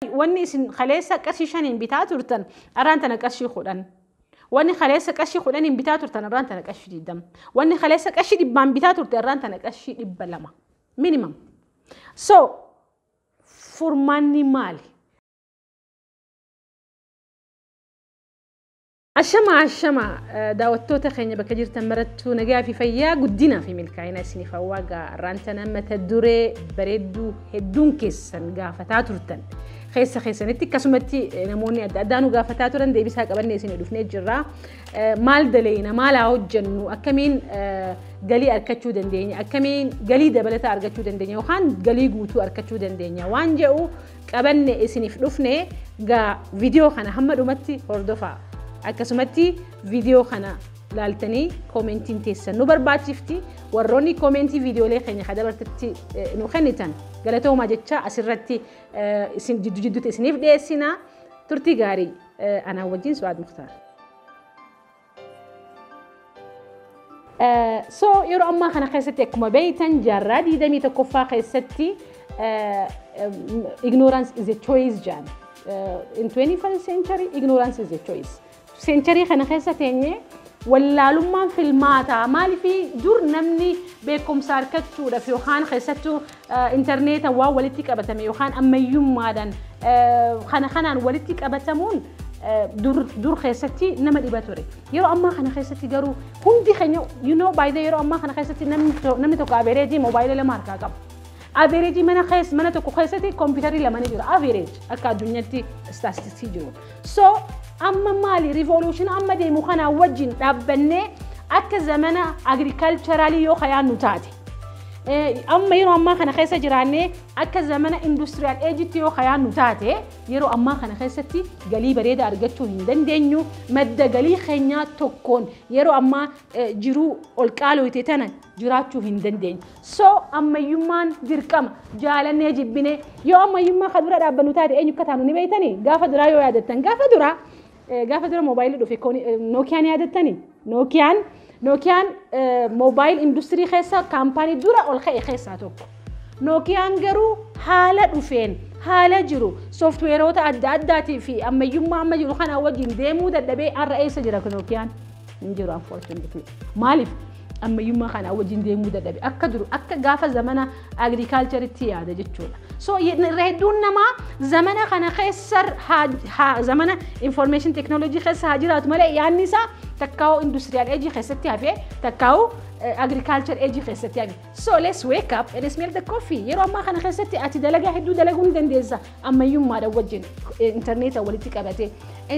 wanni isin kaleessa qarshii shaniin bitaa turtan arraan tana qarshii kudhan. Wanni kaleessa qarshii kudhaniin bitaa turtan arraan tana qarshii digdama. Wanni kaleessa qarshii dhibbaan bitaa turte arraan tana qarshii dhibba lama. Minimum. So furmaanni maali? Ashama ashama daawwattoota keenya bakka jirtan marattuu nagaa fi fayyaa guddinaa fi milkaa'ina isiniif hawwaa gaarraantan mata duree bareedduu hedduun keessan gaafataa turtan keessa keessanitti akkasumatti namoonni adda addaa nu gaafataa turan deebisaa qabannee isin dhufnee jirra maal daleeyna maal haa hojjennu akkamiin galii argachuu dandeenya akkamiin galii dabalataa argachuu dandeenya yookaan galii guutuu argachuu dandeenya waan jedhu qabanne isiniif dhufne gaa viidiyoo kana hamma dhumatti hordofaa akkasumatti viidiyoo kana laaltanii koomentiin teessan nu barbaachifti warroonni koomentii viidiyoolee keenya ka dabartetti nu kennitan galatoomaa jecha asirratti isin jiddu jidduutti isiniif dhiyeessina turtii gaarii anaa wajjin su'aad muktaar. So yeroo ammaa kana keessatti akkuma beektan jaarraa 21ffaa keessatti ignorance is a choice jedhan. In 21st century ignorance is a choice. Century kana keessa teenyee wallaalummaan filmaataa maaliif dur namni beekumsa argachuudhaaf yookaan keessattuu Interneetan waan walitti qabatame yookaan ammayyummaadhaan kana kanaan walitti qabatamuun dur dur keessatti nama dhiba ture. Yeroo ammaa kana keessatti garuu hundi keenya you know by the yeroo ammaa kana keessatti namni to- namni tokko average moobaayila lama harkaa qaba. Average mana keessa mana tokko keessatti kompiitarri lama ni jira average akka addunyaatti istaastistii jiru. So amma maali revolution amma deemu kanaa wajjin dhaabbannee akka zamana agriculturalii yoo kayaannu taate. Amma yeroo ammaa kana keessa jiraannee akka zamana industiriyaal eejitti yoo kayaannu taate yeroo ammaa kana keessatti galii bareeda argachuu hin dandeenyu. Madda galii keenyaa tokkoon yeroo ammaa jiruu ol qaalooyte tana jiraachuu hin dandeenyu. So ammayyummaan dirqama jaalannee jibbinee yoo ammayyummaa ka dura dhaabbannu taate eenyu akka taanu ni beektanii? Gaafa duraa yoo yaadattan gaafa duraa Gaafa dura moobaayilii dhufe Nookiyaan yaadattani? Nookiyaan Nookiyaan moobaayil industirii keessa kaampaanii dura ol ka'e keessaa tokko. Nookiyaan garuu haala dhufeen haala jiru sooftiweeroota adda addaatii fi ammayyummaa amma jiru kana wajjin deemuu dadhabee har'a eessa jira Nookiyaan? hin jiru unfortunately. Maaliif ammayyummaa kanaa wajjin deemuu dadhabe akka duru akka gaafa zamana agriikaalcharitti yaada jechuudha. So irra hedduun namaa zamana kana keessa zamana information technology keessa haa jiraatu malee yaadni isaa takkaa'u industrial age keessatti hafee takkaa'u agriikaalchar age keessatti hafe. So let's wake up and smell the coffee. Yeroo ammaa kana keessatti ati dalagaa hedduu dalaguu ni dandeessa. ammayyummaadhaan wajjin intarneeta walitti qabatee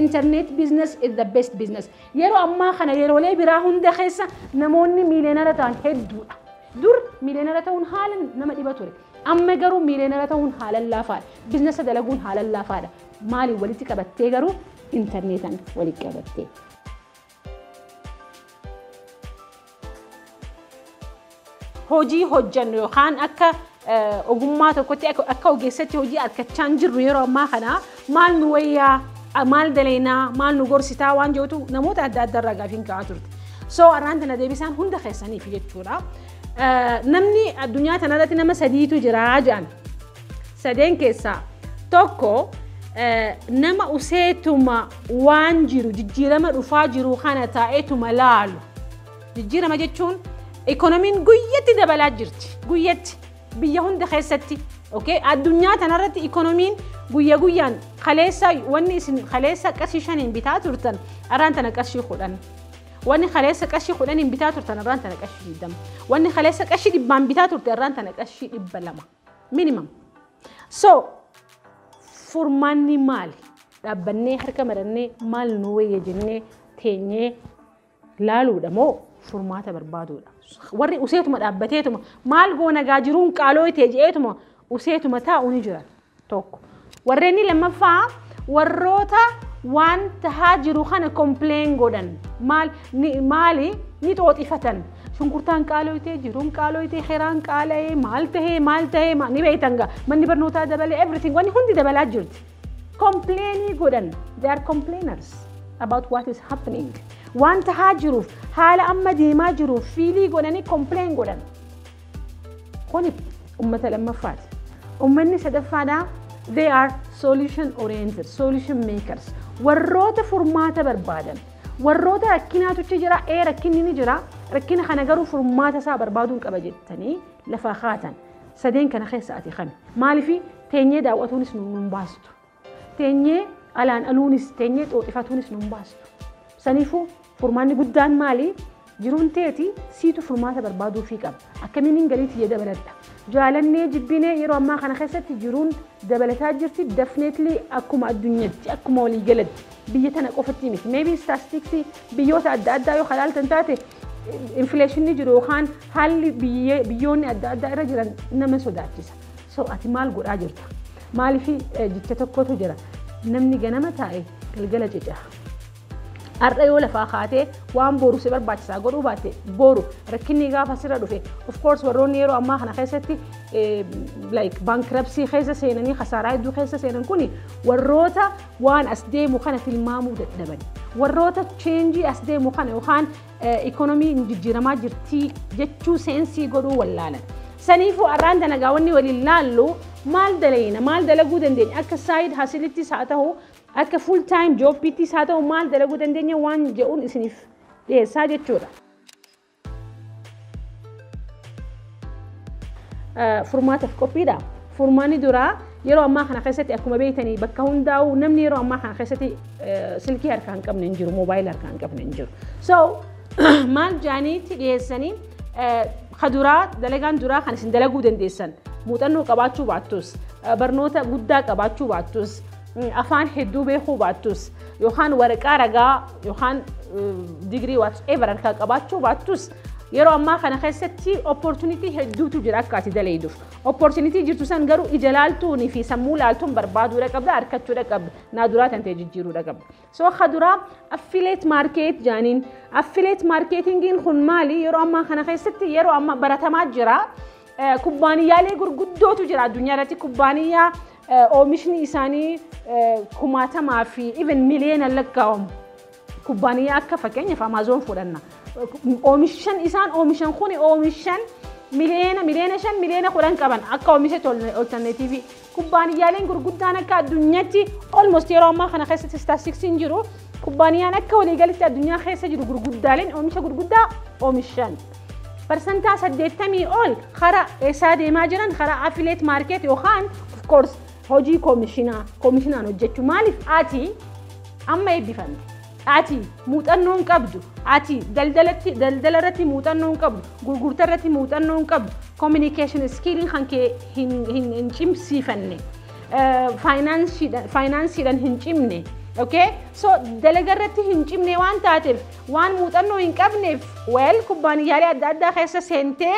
internet business is the best business yeroo ammaa kana yeroolee biraa hunda keessa namoonni miileenara ta'an hedduudha dur miileenara ta'uun haalan nama dhiba ture amma garuu miileenara ta'uun haalan laafaadha biznesa dalaguun haalan laafaadha maaliin walitti qabattee garuu intarneetan walitti qabattee. hojii hojjannu yookaan akka ogummaa tokkotti akka ogeessatti hojii argachaa hin jirru yeroo ammaa kana maal nu wayyaa maal daleynaa maal nu gorsitaa waan jedhutu namoota adda addaa irraa gaafiin ka'aa turte. So arraan tana deebisaan hunda keessaniif jechuudha. Namni addunyaa tanarratti nama sadiitu jira jedhan. sadeen keessaa tokko nama useetuma waan jiru jijjiirama dhufaa jiru kana taa'eetuma laalu. Jijjiirama jechuun ikoonomiin guyyatti dabalaa jirti. Guyyatti biyya hunda keessatti addunyaa tanarratti ikoonomiin guyya guyyaan kaleessa wanni isin kaleessa qarshii shaniin bitaa turtan arraan tana qarshii kudhan. Wanni kaleessa qarshii kudhaniin bitaa turtan arraan tana qarshii digdama. Wanni kaleessa qarshii dhibbaan bitaa turte arraan tana qarshii dhibba lama. minimum. So furmaanni maali? Dhaabbannee harka marannee maal nu wayya jennee teenyee laaluudha moo furmaata barbaaduudha? Warri useetuma dhaabbateetuma maal goona gaa jiruun qaaloo itee je'eetuma useetuma taa'u ni jira tokko. Warreenni lammaffaa warroota waan tahaa jiru kana complain godhan maal ni maali ni xooxifatan shunkurtaan qaaloytee jiruun qaaloytee keraan qaala'ee maal tahee maal tahee ma- ni beeytan gaa manni barnootaa dabalee everything wanni hundi dabalaa jirti complainii godhan they are complainers about what is happening waan tahaa jiruuf haala amma deemaa jiruuf fiilii godhanii complain godhan Kuni ummata lammaffaati. Ummanni sadaffaadhaa they are solution oriented, solution makers. Warroota furmaata barbaadan, warroota rakkinaatu achi jira, ee rakkinni ni jira, rakkina kana garuu furmaata isaa barbaaduun qaba jettanii lafaa kaatan. Sadeen kana keessa ati kami? Maaliif teenyee daawwatuunis nu hin baastu. Teenyee alaan aluunis teenyee xooxifatuunis nun baastu. Saniifuu furmaanni guddaan maali? Jiruun teeti siitu furmaata barbaaduufii qaba. Akkamiinin galii tiyya dabaladha? Jaalannee jibbinee yeroo ammaa kana keessatti jiruun dabalataa jirti. Definitely akkuma addunyatti, akkuma waliigalatti biyya tana qofatti miti. Maybe statistics biyyoota adda addaa yoo kalaaltan taate infleeshinni jiru yookaan haalli biyyoonni adda addaa irra jiran nama sodaachisa. So ati maal godhaa jirta? Maaliif jecha tokkotu jira. Namni ganama taa'e galgala cica. Har'a yoo lafaa kaatee waan boru si barbaachisaa godhuu baatte boru rakkinni gaafa sirra dhufe of course warroonni yeroo ammaa kana keessatti like bankruptcy keessa seenanii kasaaraa hedduu keessa seenan kuni warroota waan as deemu kana tilmaamuu dadhaban warroota cheenjii as deemu kana yookaan Economy nu jijjiiramaa jirti jechuu seensii godhuu wallaalan. Saniifuu arraan tana gaa wanni waliin laallu maal dalayna maal dalaguu dandeenya akka side hustle'ttis haa ta'u akka full time job'ttis haa ta'u maal dalaguu dandeenya waan je'uun isiniif dhiyeessaa jechuudha. Furmaataaf qophiidha. Furmaanni duraa yeroo ammaa kana keessatti akkuma beektanii bakka hundaa'u namni yeroo ammaa kana keessatti silkii harkaa hin qabne hin jiru, moobaayila harkaa hin qabne hin jiru. So maal jaaniitti dhiyeessanii ka duraa dalagaan duraa kan isin dalaguu dandeessan muuxannoo qabaachuu baattus barnoota guddaa qabaachuu baattus afaan hedduu beekuu baattus yookaan waraqaa ragaa yookaan digirii whatever harkaa qabaachuu baattus Yeroo ammaa kana keessatti opportunity hedduutu jira akka ati daleeyduuf. Opportunity jirtu san garuu ija laaltuunii fi sammuu laaltuun barbaaduudha qabda, arkachuudha qabda. Naa duraa tantee jijjiiruudha qabda. So ka duraa affiliate market jaaniin. Affiliate marketingiin kun maali? Yeroo ammaa kana keessatti yeroo ammaa baratamaa jira. Kubbaaniyyaalee gurguddootu jira addunyaa irratti kubbaaniyyaa oomishni isaanii kumaatamaa fi even miliyoona lakkaa'amu. Kubbaaniyyaa akka fakkeenyaaf Amaazoon fudhanna. Oomishan isaan oomishan kun oomishan miliyoona miliyoona shan miliyoona kudhan qaban akka oomishatti oltanneetiivii. Kubbaaniyyaaleen gurguddaan akka addunyaatti olmost yeroo ammaa kana keessatti istaatistiksiin jiru kubbaaniyyaan akka waliigalitti addunyaa keessa jiru gurguddaaleen oomisha gurguddaa oomishan. Parsantaa saddeettamii ol karaa eessaa deemaa jiran karaa afileet maarkeet yookaan of course Hojii Komishinaa, Komishinaan hojjechuu maaliif ati amma eebbifamte? Ati muuxannoo hin qabdu. Ati daldalatti daldala irratti muuxannoo hin qabdu. Gurgurtaa irratti muuxannoo hin qabdu. Communication skilliin kan kee hin hin hin cimsiifanne. Faayinaansiidhaan faayinaansiidhaan hin cimne. Okay? So dalaga irratti hin cimne waan taateef waan muuxannoo hin qabneef weel kubbaaniyyaalee adda addaa keessa seentee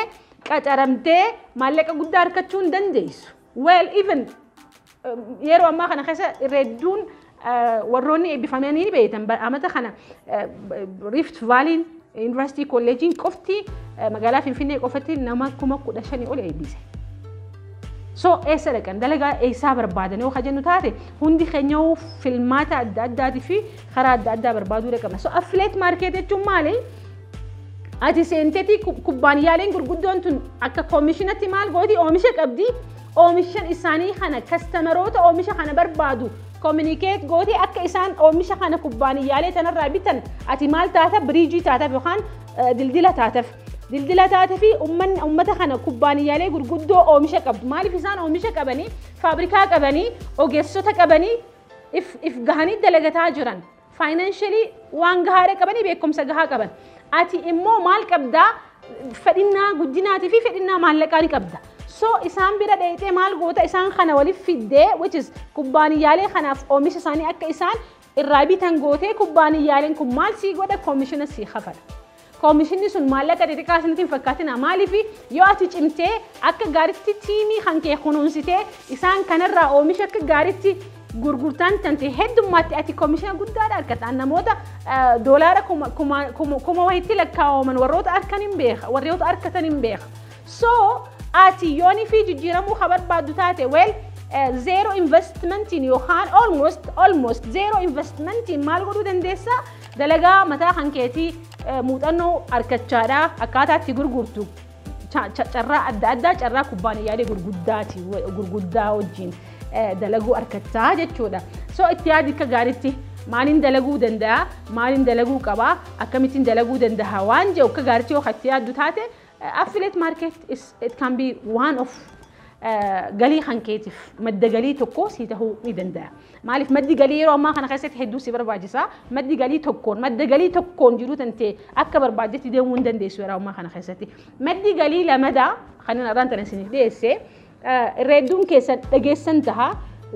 qacaramtee maallaqa guddaa harkachuu hin dandeessu. Well even yeroo ammaa kana keessa irra hedduun warroonni eebbifamanii ni beektan amata kana Rift Vaaliin Yuunivarsiitii Kolleejiin qofti magaalaa Finfinnee qofatti nama kuma kudha shanii ol eebbise. So eessa dhaqan dalagaa eessaa barbaadan yoo kajennu taate hundi keenya filmaata adda addaatii fi karaa adda addaa barbaaduu dhaqabna. So affiliate market jechuun maali? Ati seentetii kubbaaniyaaleen gurguddoon tun akka koomishinatti maal gooti oomisha qabdi oomishan isaanii kana kastameroota oomisha kana barbaadu koominikeet gooti akka isaan oomisha kana kubbaaniyaalee tanarraa bitan ati maal taata biriijii taataf yookaan dildila taataf. Dildila taate fi uummata kana kubbaaniyaalee gurguddoo oomisha qabdu maaliif isaan oomisha qabanii faabrikaa qabanii ogeessota qabanii if gahanii dalagataa jiran Faayinaanshalii waan gahaa irra qabanii beekumsa gahaa qaban. Ati immoo maal qabdaa fedhinnaa guddinaatii fi fedhinnaa maallaqaa ni qabda. So isaan bira dheeyxee maal goota isaan kana waliif fiddee which is kubbaaniyyaalee kanaaf oomisha isaanii akka isaan irraa bitan gootee kubbaaniyyaaleen kun maal sii godha koomishina sii kafala. Koomishinni sun maallaqa xixiqqaa isinitti hin fakkaatinaa. Maaliif? Yoo ati cimtee akka gaaritti tiimii kan kee kunuunsitee isaan kanarraa oomisha akka gaaritti gurgurtaan tante heddummaatte ati koomishina guddaadha argataan namoota doolaara kuma wayitti lakkaa'aman warroota arkan hin beeka warroota arkatan hin beeka. So ati yoonii fi jijjiiramuu ka barbaaddu taate weel zeero investmentiin yookaan almost almost zeero investmentiin maal godhuu dandeessaa? Dalagaa mataa kan keetii muuxannoo argachaadha. Akkaataa itti gurgurtu carraa adda addaa carraa kubbaaniyyaalee gurguddaati gurguddaa wajjin dalaguu argattaa jechuudha. So itti yaadi akka gaariitti maaliin dalaguu danda'a maaliin dalaguu qaba akkamittiin dalaguu danda'a waan jedhu akka gaariitti yoo itti yaaddu taate Affiliate market is it can be one of galii kan keetiif madda galii tokko sii tahuu ni danda'a. Maaliif maddi galii yeroo ammaa kana keessatti hedduu si barbaachisa. Maddi galii tokkoon madda galii tokkoon jiruu tantee akka barbaaddetti deemuu hin dandeessu yeroo ammaa kana keessatti. Maddi galii lamadaa kan irraan tana isiniif dhiyeesse irra hedduun keessan dhageessan taha.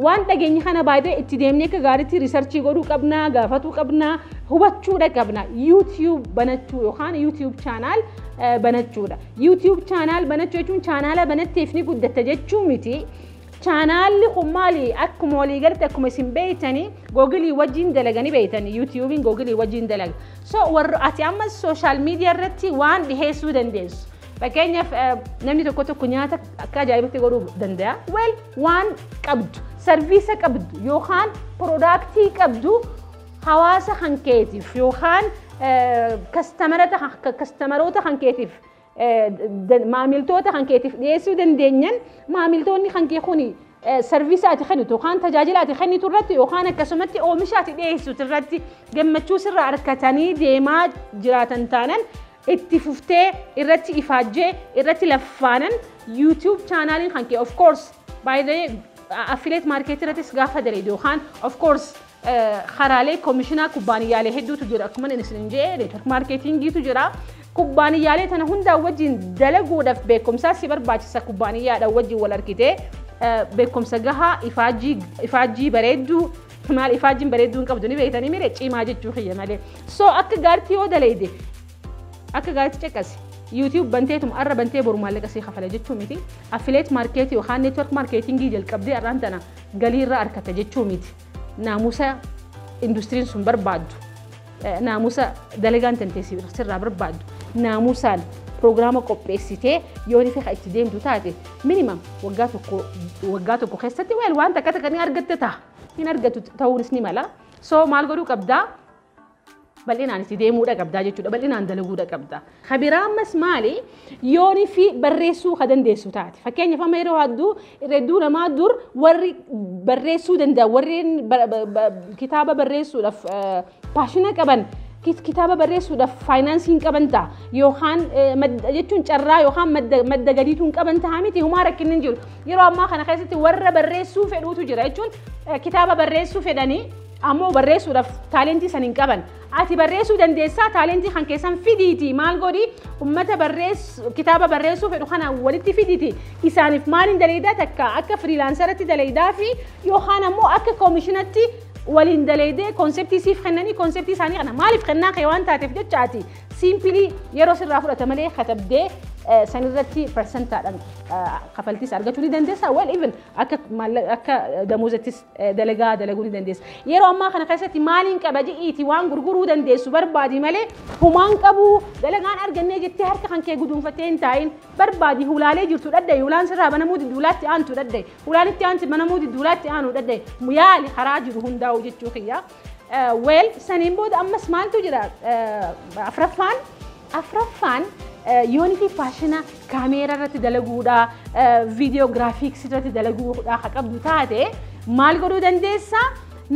Waan dhageenye kana baay'ee itti deemnee akka gaariitti riisarchii godhuu qabna, gaafatuu qabna, hubachuudha qabna. YouTube banachuu yookaan YouTube chaanaal banachuudha. YouTube chaanaal banachuu jechuun chaanaala banatteef ni guddatta jechuu miti. Chaanaalli kun maali akkuma walii galatti akkuma isin beeytanii googilii wajjin dalaganii beeytanii yuutiyuubiin googilii wajjin dalaga. So warra ati ammas sooshaal miidiyaa irratti waan dhiheessuu dandeessu. Fakkeenyaaf namni tokko tokko nyaata akka ajaa'ibatti godhuu danda'a. Weel waan qabdu, sarviisa qabdu yookaan piroodaaktii qabdu hawaasa kan keetiif yookaan kastamaroota kan keetiif maamiltoota kan keetiif dhiyeessuu dandeenyan maamiltoonni kan kee kuni sarviisa ati kennitu yookaan tajaajila ati kennitu irratti yookaan akkasumatti oomisha ati dhiyeessitu irratti gammachuu sirraa argatanii deemaa jiraatan taanan itti fuftee irratti ifaajjee irratti laffaanan YouTube chaanaaliin kan kee of course by the affiliate market irrattis gaafa daleedu yookaan of course karaalee komishinaa kubbaaniyyaalee hedduutu jira akkuma inni isin jee network marketingiitu jira kubbaaniyyaalee tana hundaa wajjin dalaguudhaaf beekumsaa si barbaachisa kubbaaniyyaadhaan wajjin wal argitee beekumsa gahaa ifaajjii bareedduu Maal ifaajjiin bareedduu hin qabdu ni beektanii mire cimaa jechuu kiyya malee. So akka gaaritti yoo daleeyde akka gaaritti caqasi. YouTube banteetum arra bantee boru maallaqa sii kafala jechuu miti. Affiliate market yookaan network marketing jalqabdee arraan tana galii irraa arkatta jechuu miti. Naamusa industiriin sun barbaaddu. Naamusa dalagaan tantee sirraa barbaaddu naamusaan piroogiraama qopheessitee yoo rife kan itti deemtu taate minimam waggaa tokko waggaa tokko keessatti weel waan takka takka ni argatte ta'a. Hin argatu ta'uunis ni mala. So maal godhuu qabdaa? Bal'inaan itti deemuudha qabdaa jechuudha. Bal'inaan dalaguudha qabdaa. Ka biraa ammas maali? Yooni fi barreessuu ka dandeessu taate. Fakkeenyaaf amma yeroo hedduu hedduu namaa dur warri barreessuu danda'a warreen ba- ba- ba- kitaaba barreessuudhaaf eh, paashina qaban kit- kitaaba barreessuudhaaf faayinaansii hin qaban ta'a yookaan eh, madda- jechuun carraa yookaan madda madda gadiitu hin qaban ta'a miti humaa rakkinni hin jiru. Yeroo ammaa kana keessatti warra barreessuu fedhuutu jira jechuun eh, kitaaba barreessuu fedhanii ammoo barreessuudhaaf taalentii san hin qaban Ati barreessuu dandeessaa taalentii kan keessan fidiiti maal godhi ummata barreessu kitaaba barreessuu fedhu kana walitti fiditi isaaniif maaliin daleeydaa takka akka firiilaansaratti daleeydaa fi yookaan ammoo akka koomishinatti waliin daleeydee konseptii siif kennanii konseptii isaanii kana maaliif kennaa kee waan taateef jecha ati siimpilii yeroo sirraa fudhata malee katabdee sanirratti persentaadhaan kafaltiis argachuu ni dandeessaa well even akka maallaqa akka damoozattis dalagaa dalaguu ni dandeessa. Yeroo ammaa kana keessatti maaliin qaba jedhiiti waan gurguruu dandeessu barbaadi malee humaan qabu dalagaan argannee jettee harka kan kee guduunfattee hin taa'in barbaadi hulaalee jirtu dhadda'i hulaan sirraa banamuu diddu hulaatti aantu dhadda'i hulaan itti aanti banamuu diddu hulaatti aanu dhadda'i yaali karaa jiru hundaa'u jechuu kiyyaa. Weel saniin booda ammas maaltu jira? Afraffaan afraffaan yoonitii faashina kaameeraa irratti dalaguudha, viidiyoo giraafiiksii irratti dalaguudha ka qabdu taate maal godhuu dandeessa?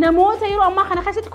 Namoota yeroo ammaa kana keessatti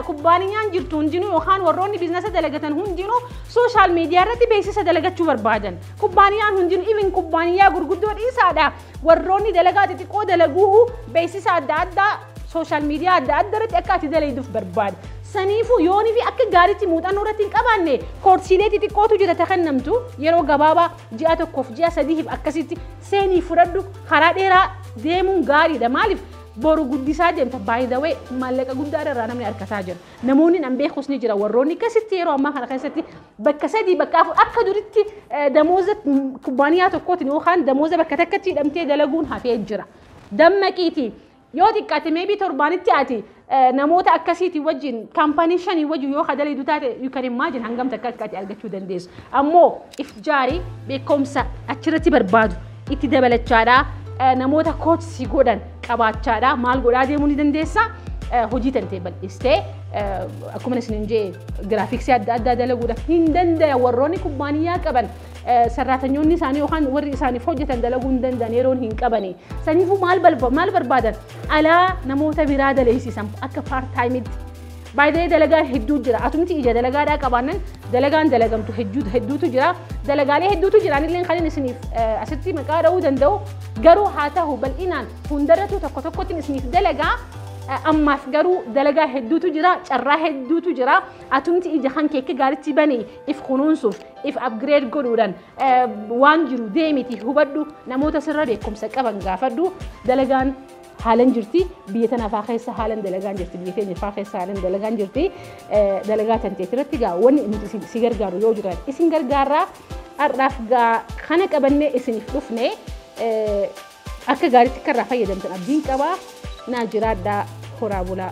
kubbaaniyaan jirtu hundinuu yookaan warroonni biizinasa dalagatan hundinuu sooshaal miidiyaa irratti beeksisa dalagachuu barbaadan. Kubbaaniyaan hundinuu even kubbaaniyaa gurguddoo dhiisaadha Warroonni dalagaa xixiqqoo dalaguuhu beeksisa adda addaa sooshaal miidiyaa adda adda irratti akka ati dalayduuf barbaada. Saniifuu yoonii fi akka gaariitti muuxannoo irratti hin qabaanne koorsiilee xixiqqootu jira ta kennamtu yeroo gabaabaa ji'a tokkoof ji'a sadiif akkasitti seenii fudhadhu karaa dheeraa deemuun gaariidha maaliif boru guddisaa deemta by the way maallaqa guddaa irraa namni arkataa jira namoonni nan beekus ni jira warroonni akkasitti yeroo ammaa kana keessatti bakka sadii bakka afur akka duritti eh, damooza mm, kubbaaniyaa tokkootiin yookaan damooza bakka takkatti hidhamtee dalaguun hafee jira. Dammaqiitii yoo xiqqaate meebii torbaanitti ati eh, namoota akkasiitii wajjin kaampaanii shanii wajjin yoo kadaliidu taate you can imagine hangam takka akka ati argachuu dandeessu. Ammoo if jaarii beekumsa achirratti barbaadu itti dabalachaadha. Namoota koochi si godhan qabaachaadha. Maal godhaa deemuu ni dandeessa? Hojii tantee bal'istee akkuma isin hin jee giraafiksii adda addaa dalaguudhaaf hin dandaya warroonni kubbaaniyyaa qaban sarraatanyoonni isaanii yookaan warri isaaniif hojjetan dalaguu hin danda'an yeroon hin qabani. Saniifuu maal barbaadan? Alaa namoota biraa daleessisan akka paartaayimitti By the way dalagaan hedduu jira. Atumti ija dalagaadhaa qabaannan dalagaan dalagamtu hedduu- hedduutu jira. Dalagaalee hedduutu jira. Anillee kanin isiniif eh, asitti maqaa dha'uu danda'u. Garuu haa ta'u bal'inaan hundarratuu tokko tokkotiin isiniif dalagaa. Eh, Ammaaf garuu dalagaa hedduutu jira. Carraa hedduutu jira. Atumti ija kan kee akka gaaritti bani if kunuunsuuf if upgrade godhuudhaan eh, waan jiru deemiti hubadhu namoota sirra beekumsa qaban gaafadhu dalagaan haalan jirti biyya tana faa keessa haalan dalagaan jirti biyya keenya faa keessa haalan dalagaan jirti dalagaa tan teeti irratti gaa wanni nuti si gargaaru yoo jiraate isin gargaarraa har'aaf gaa kana qabannee isiniif dhufne akka gaariitti akka irraa fayyadamtan abdiin qabaa naa jiraadhaa horaa bulaa.